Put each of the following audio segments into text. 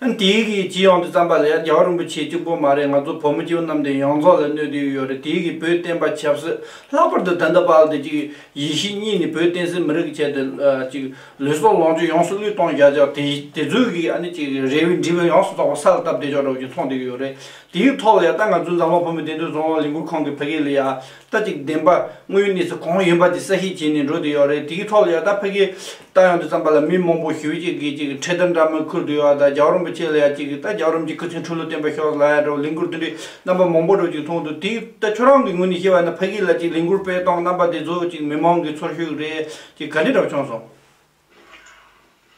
ཨན་དེ་གི་ཇི་ཡོང་དུ་བརྩམས་པ་ལས་རྒྱལ་བ་རིན་པོ་ཆེ་གཅིག་པོ་མ་རེད་ང་ཚོ་བུ་མོ་སྐྱེ་བོ་རྣམས་དེ་ཡོངས་རྫོགས་ལ་གནོད་དུ་ཡོད་རེད་དེ་གི་བོད་བསྟན་པ་ཆབ་སྲིད་ལྷག་པར་དུ་དན་ད་བར་དུ་གཅིག་ཡེ་ཤེས་གཉིས་ནི་བོད་བསྟན་སྲིད་མི་རིགས་ཀྱི་ཆེད་དུ་གཅིག་ལུས་སྲོག་ལོངས་སྤྱོད་ཡོངས་སུ་བློས་གཏོང་བྱ་ཆོག་དེ་དེ་ཚོའི་གི་ཨ་ནི་གཅིག་རེ་བའི་འབྲི་བའི་ཡོངས་སུ་རྫོགས་པ་ས་ལ་བཏབ་བསྡད་ཆོག་འདྲ་བ་གཅིག་མཐོང་དུ་ཡོད་རེད་དེ་གི་ཐོག་ལས་ད་ང་ཚོའི་འཛམ་གླིང་བུ་མོ་བདེ་འདུན་རྫོང་ལ་ལས་འགུལ་ཁང་གི་ཕ་གི་ལ་ཡ་རྩ་གཅིག་བདེན་པ་དངོས་གནས་སུ་གང་ཡོད་པ་དེ་གསལ་བཤད་བྱས་ནས་འགྲོ་དུ་ཡོད་རེད་དེའི་ཐོག་ལ་ཡང་དག་ཕ་གིའི་ལྟ་ཡང་དུ་བརྩམས་པ་ལ་མི་མང་པོ་ཞུ་ཅིག་གིས་ཅིག་འཕྲེད་དར་འདྲ་མིན་ཁུར་དུ་ཡོད་ད་རྒྱ་རོམ་པོ་ཆེ་ལ་ཡང་ཅིག་གིས་ད་རྒྱ་རོམ་གྱི་སྐུ་ཚེའི་འཁྲུལ་བློ་བསྟན་པ་ཤོག་ལ་ཡང་འདྲ་བོ་ལས་འགུར་དེ་འདྲའི་རྣམ་པ་མང་པོ་འགྲོ་ཅིག་མཐོང་འདུག་དེ་ལྟ་ཁྱོད་རང་གི་ངོས་ནས་བཤད་པ་ན་ཕ་གི་ལ་ཅིག་ལས་འགུར་སྤེལ་སྟངས་རྣམ་པ་དེ་ཚོ་ཅིག་མི་མང་གི་ཚོར་ཤུགས་རེད་ཅིག་ག་འདྲའི་གྲབས་བྱུང་སོང།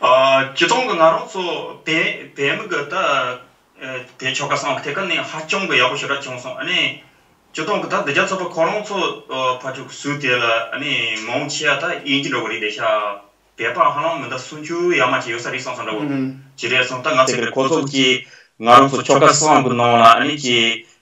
སྤྱི་སྟོང་གི་ང་རང་ཚོ་བལ་མི་གི་དེ་ཆོ་ག་སང་ལ་དེ་ག་ནས་ཧ་ཅང་གི་ཡག་པོ་ཞེ་དྲག་བྱུང་སོང་ཨཱ་ནས་སྤྱི་སྟོང་གི་ད་འདི་རྒྱ་ཚོ་པ་ཁོ་རང་ཚོ་ཕ་ཕྲུག་ཟུག་དེ་ལ་ཨཱ་ནས་མ་འོང་ཆེ་ཡ་ད་ཡིན་གྱི་འགྲོ་གི་རིག་དེ་ཤ་བལ་པ་ཧ་ལམ་མི་འདའ་སུན་ཆུ་ཡ་མ་ཆེ་ཡོད་ས་རིག་སང་སང་འདྲ་བོ་ཇི་རེད་སང་ད་ང་ཚོ་བལ་པོ་ཚོ་གཅིག་ང་རང་ཚོ་ཆོ་ག་སང་གི་ནང་ལ་ཨཱ་ནས་ཀྱི་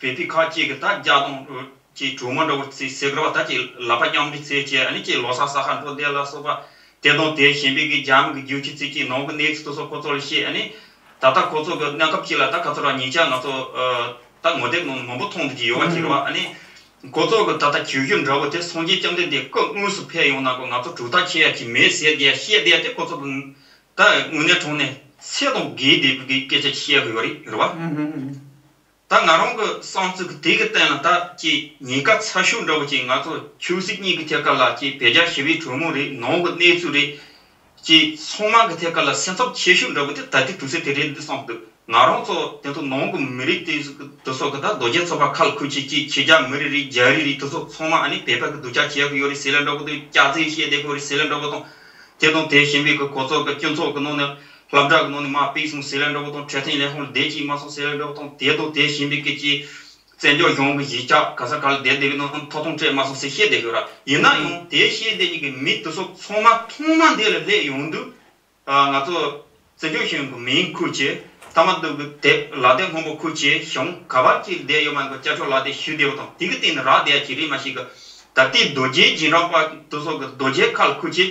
བལ་པོའི་ཁ་ཅིག་གིས་ད་བརྒྱ་སྟོང་ཅེས་གྲུ་མ་འདྲ་བོར་བརྩིགས་ཟེར་གི་ར་བ་ད་ཅིག་ལ་པ་སྙོམས་འདྲིས་རྩེད་ཅེས་ཨ་ཅེས་ལོ་སར་ས་ཁ་འགྲོ་བསྡད་ལ་སོགས་པ་དེ་དང་དེ་གཞན་པའི་གི་རྒྱ་མི་གི་རྒྱུག་ཁྱི་རྩིག་ཁྱི་ནང་གི next hit སོགས་ཁོ་ཚོ་ལ་བཤད་ཨ་ད་ལྟ་ཁོ་ཚོ་གི་གནས་སྐབས་ཅིག་ལ་ད་ག་ཚོད་རང་ཉིད་ཅག་ང་ཚོ་ད་ངོ་དེབ་ནང་ནས་མང་པོ་མཐོང་འདུག་ཅེས་ཡོལ་བ་ཁྱེར་བ་ཨ་ཁོ་ཚོ་གི་ད་ལྟ་གྱོད་གཞུ་འདྲ་བོ་དེ་སངས་རྒྱས་བཅོམ་ལྡན་འདས་སྐུ་དངོས་སུ་ཕེབས་ཡོང་ན་ཁོ་ང་ཚོ་གྲུ་ཐག་ཆད་ཡ་ཁྱི་མེད་ཟེར་གི་ཡ་བཤད་བསྡད་དེ་ཁོ་ཚོ་དང་ད་དངོས་གནས་གྲོང་ནས་ཚེ་དང་གེའི་སྡེ་དགུ་གི་སྐད་ཆ་བཤད་གི་ཡོད་རེད་རེད་བ། ད་ང་རང་གི་གསང་ཚིག་དེ་གི་སྟེང་ལ་ད་ཀྱི་ཉེན་ཁ་ཚ་ཤུགས་འདྲ་བོ་ཅིག་ང་ཚོ་ཆོས་སྲིད་གཉིས་ཀི་ཐད་ཀར་ལ་ཀྱི་བེད་སྦྱར་ཞི་བའི་གྲོས་མོལ་རེད་ནང་གི་གནས་ཚུལ་རེད། ཀྱི་ཚང་མ་གི་ཐད་ཀར་ལ་སེམས་འཚབ་ཆེ་ཤུགས་འདྲ་བོ་དེ་ད་ལྟའི་དུས་ཚོད་དེ་རེད་འདི་བསམ་འདུག་ང་རང་ཚོ་དེ་ཚོ་ནང་གི་མི་རིགས་དེ་དེ་ཚོ་གི་ད་རྡོ་རྗེ་ཚོ་པ་ཁ་ལ་ཁུར་ཆེད་ཀྱི་ཁྱེད་ཅག་མི་རིགས་རིགས་རྒྱ་རིགས་རིགས་དེ་ཚོ་ཚང་མ་ཨ་ནི་བོད་པ་གི་འདུ་ཅག་བྱེད་གི་ཡོད་རེད་ཟེར་ལ་འདྲ་བོ་དེ་སྐྱག་རྫིག་བཤད་བསྡད་གི་ཡོད་རེད་ཟེར་ལ་འདྲ་བོ་དང། དེ་དང་དེ་བྱིན་པའི་གི་གོ་ཚོགས་གི་སྤྱི་ཚོགས་གི་ནང་ནས། ལྷ་བྲག་གི་ནང་ནས་མ་དཔེ་གསུང་སེ་ལའི་འགྲོ་སྒོ་དང་འཕྲད་ཐེངས་ལས་ཧོར་སྡེ་གཅིག་མ་གསུང་སེ་ལའི་འགྲོ་སྒོ་དང་དེ་དང་དེ་བཞིན་པའི་སྐད་ཀྱིས། བཙན་བྱོལ་གཞུང་གི་གཞིས་ཆགས་ག་ས་ག་ལ་སྡེ་དེ་གའི་ནང་མཐོ་གཏོང་འཕྲད་མ་གསུང་སེ་ཤེས་སྡེ་ཤོད་ར་ཡིན་ན་ཡང་དེའི་ཤེས་སྡེ་གཉིས་ཀྱི་མི་དེ་ཚོ་ཚང་མ་ཐོག་མ་འདི་ལ་སླེབས་ཡོང་དུས། ང་ཚོ་བཙན་བྱོལ་གཞུང་གི་མིང་ཁུར་ཆེད་ཐ་མ་དུག་གི་དེབ་ལག་དེབ་སྔོན་པོ་ཁུར་ཆེད་གཞུང་ག་བར་གྱི་སྡེ་ཡོད་མ་ཡིན་པ་བཅའ་ཕྱོགས་ལག་དེབ་ཞུས་བསྡད་པ་དང་དེ་གི་སྟེང་ནས་རག་བསྡད་ཡ་གྱི་རིས་མ་ཞིག་གི། ད་ལྟའི་རྡོ་རྗེའི་རྗེས་འབྲང་པ་དེ་ཚོ་གི་རྡོ་རྗེའི་ཁ་ལ་ཁུར་ཆེད།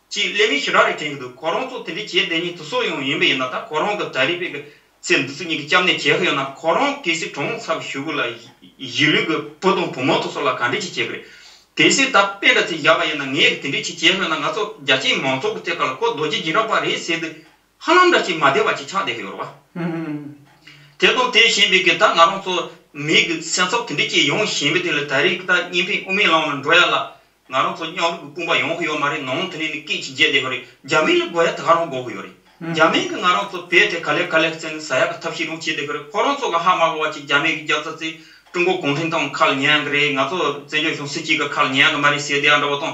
ཅེས་གླེང་མོལ་ཞེ་དྲག་རེ་དྲན་གྱི་འདུག་ཁོ་རང་ཚོ་དེ་འདྲའི་བྱས་བསྡད་ཉིན་ཐུགས་སྲོག་ཡོང་ཡིན་པ་ཡིན་ན་ད་ཁོ་རང་དང་གྲྭ་རིན་པའི་ཚེ་འདི་ཚོ་གཉིས་ཀྱི་སྐྱབས་གནས་བྱེད་ཧ་ཡོད་ན་ཁོ་རང་གལ་སྲིད་གྲོངས་ཚར་བ་ཞུ་དགོས་ལ་གཞིས་ལུས་ཀྱི་བུ་དང་བུ་མོ་ཚོ་སོགས་ལ་ག་འདྲས་ཅིག་བྱེད་དགོས་རེད། གལ་སྲིད་ད་དཔེ་འདྲ་ཚིག་བཞག་པ་ཡིན་ན་ངས་དེ་འདྲའི་ཆེད་བྱེད་ཧ་ཡོད་ན་ང་ཚོ་རྒྱ་ཆེའི་མང་ཚོགས་ཀྱི་རྩེ་གར་ལ་ཁོ་རྡོ་རྗེ་སྦྱིན་རག་པ་རེད་ཟེར་དུས་ཧ་ལམ་འདྲ་ཅིག་མ་བདེ་བ་ཅིག་ཆགས་བསྡད་ཀྱི་ཡོད་རེད་བ། དེ་དང་དེ་གཞན་པའི་གི་ད་ང་རང་ཚོ་མིའི་གི་སེམས་ཚབ་དེ་འདྲས་ཀྱིས་ཡོང་བཞིན་པའི་དེ་ལ་ད་རེས་གི་ད་གཉིས་ཕན་དབུ་མའི་ལམ་ལ་འགྲོ་ཡ་ལ། ང་རང་ཚོ་མཉམ་རུབ་གི་དཔུང་པ་ཡོང་གི་ཡོད་མ་རེད་ནང་དེ་ནས་ནི་སྐད་ཅིག་འཇལ་བསྡད་ཡོད་རེད་རྒྱ་མི་ལ་དགོས་ཡ་ད་ག་རང་དགོས་ཀྱི་ཡོད་རེད་རྒྱ་མི་གི་ང་རང་ཚོ་བལ་དེ་ག་ལེར་ག་ལེར་བརྩད་ནི་ཟ་ཡ་གི་ཐབས་ཤེས་རུང་བྱས་བསྡད་ཀྱི་རེད་ཁོ་རང་ཚོ་གི་ཧ་མ་གོ་བ་ཅིག་རྒྱ་མི་གི་རྒྱབ་རྩ་རྩེ་ཀྲུང་གོ་གུང་ཁྲན་ཏང་གི་ཁ་ལ་ཉན་ཡ་གི་རེད་ང་ཚོ་བཙན་བྱོལ་གཞུང་སྲིད་སྤྱི་གི་ཁ་ལ་ཉན་ཡ་གི་མ་རེད་ཟེར་བསྡད་ཡ་འདྲ་བ་དང།